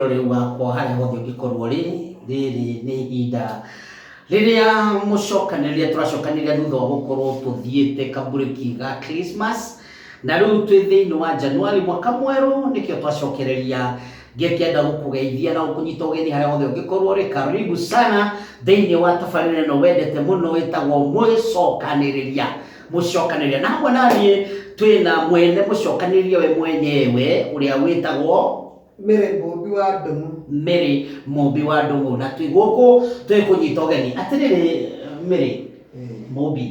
Ũrĩ ũgaakorwo harĩa hothe ũngĩkorwo ũrĩ, rĩrĩ nĩ ihinda rĩrĩa mũcokanĩrĩria tũracokanĩrĩria thutha wa gũkorwo tũthiĩte kamburĩki ga Christmas, na rĩu twĩ thĩinĩ wa January mwaka mwerũ nĩkĩo twacokereria ngĩkĩenda gũkũgeithia na gũkũnyita ũgeni harĩa hothe ũngĩkorwo ũrĩ karibu sana thĩinĩ wa tabarĩra ĩno wendete mũno ĩtagwo mũcokanĩrĩria mũcokanĩrĩria na hamwe naniĩ twĩna mwene mũcokanĩrĩria we mwenyewe ũrĩa wĩtagwo Mary Mũũmbi wa Ndũng'ũ. Mary Mũũmbi wa Ndũng'ũ, na twĩ gũkũ twĩ kũnyita ũgeni. Atĩrĩrĩ Mary Mũũmbi,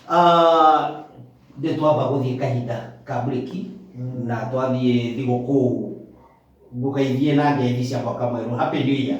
ah, nĩ twamba gũthiĩ kahinda ka mburĩki na twathiĩ thigũkũ ngũgeithie na ngethi cia mwaka mwerũ. Happy New Year.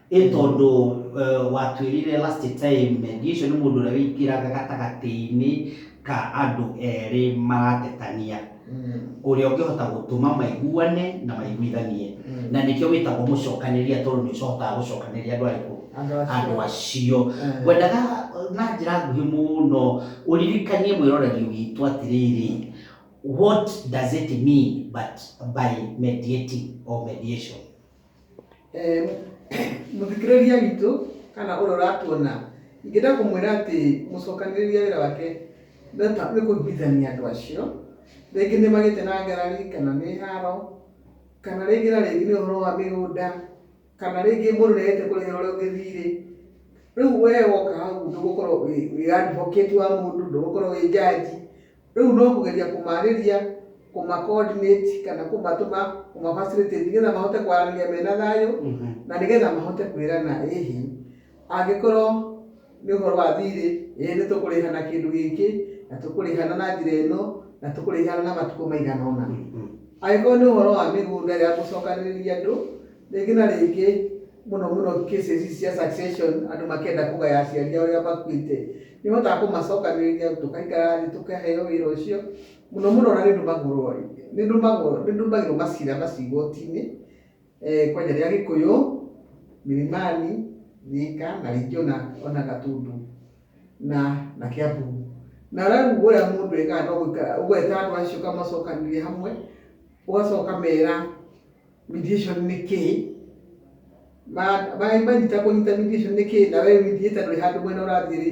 ĩ tondũ uh, watwĩrire last time mediation nĩ mũndũ ũrĩa wĩingĩraga gatagatĩ-inĩ ka andũ erĩ maratetania ũrĩa ũngĩhota gũtũma maiguane na maiguithanie na nĩkĩo wĩtagwo mũcokanĩria tondũ nĩ ũcohotaga gũcokanĩria andũ arĩkũ Andũ acio. andũ acio Eh. ngwendaga uh, na njĩra nguhĩ mũno ũririkanie mwĩroreri witũ atĩrĩrĩ what does it mean but by mediating or mediation Mũthikĩrĩria witũ kana ũrĩa ũratuona, ingĩenda kũmwĩra atĩ mũcokanĩrĩria wĩra wake nĩ kũiguithania andũ acio. Rĩngĩ nĩ magĩte na ngarari kana nĩ haro, kana rĩngĩ na rĩngĩ nĩ ũhoro wa mĩgũnda, kana rĩngĩ mũndũ nĩ agĩte kũrĩhĩra ũrĩa ũngĩ thiirĩ. Rĩu we woka hau ndũgũkorwo wĩ advocate wa mũndũ, ndũgũkorwo wĩ judge, Rĩu no kũgeria kũmaarĩria, kũma coordinate kana kũmatũma, kũma facilitate nĩgetha mahote kwaranĩria mena thayũ na nĩgetha mahote kwĩrana ĩ hihi angĩkorwo nĩ ũhoro wa thirĩ, ĩ nĩ tũkũrĩhana kĩndũ gĩkĩ, na tũkũrĩhana na njĩra ĩno, na tũkũrĩhana na matukũ maigana ũna. Angĩkorwo nĩ ũhoro wa mĩgũnda ya gũcokanĩrĩria andũ, rĩngĩ na rĩngĩ mũno mũno cases ici cia succession andũ makĩenda kũgaya aciari ao arĩa makuĩte. nĩ hotaga kũmacokanĩrĩria tũkaikara thĩ tũkaheo wĩra ũcio mũno mũno na nĩ ndũmagũrwo nĩ ndũmagwo nĩ ndũmagĩrwo macira macio igoti-inĩ eh, kwanja rĩa gĩkũyũ milimani thika na rĩngĩ ona ona gatundu na na kĩambu na rĩu ũrĩa mũndũ ekaga no gũikara ũgweta andũ acio ũkamacokanĩrĩria hamwe ũgacoka ũkamera mediation nĩ kĩĩ Ma- ma- manyita kũnyita mediation nĩ kĩĩ na we mediator ndũrĩ handũ mwena ũrathiĩ rĩ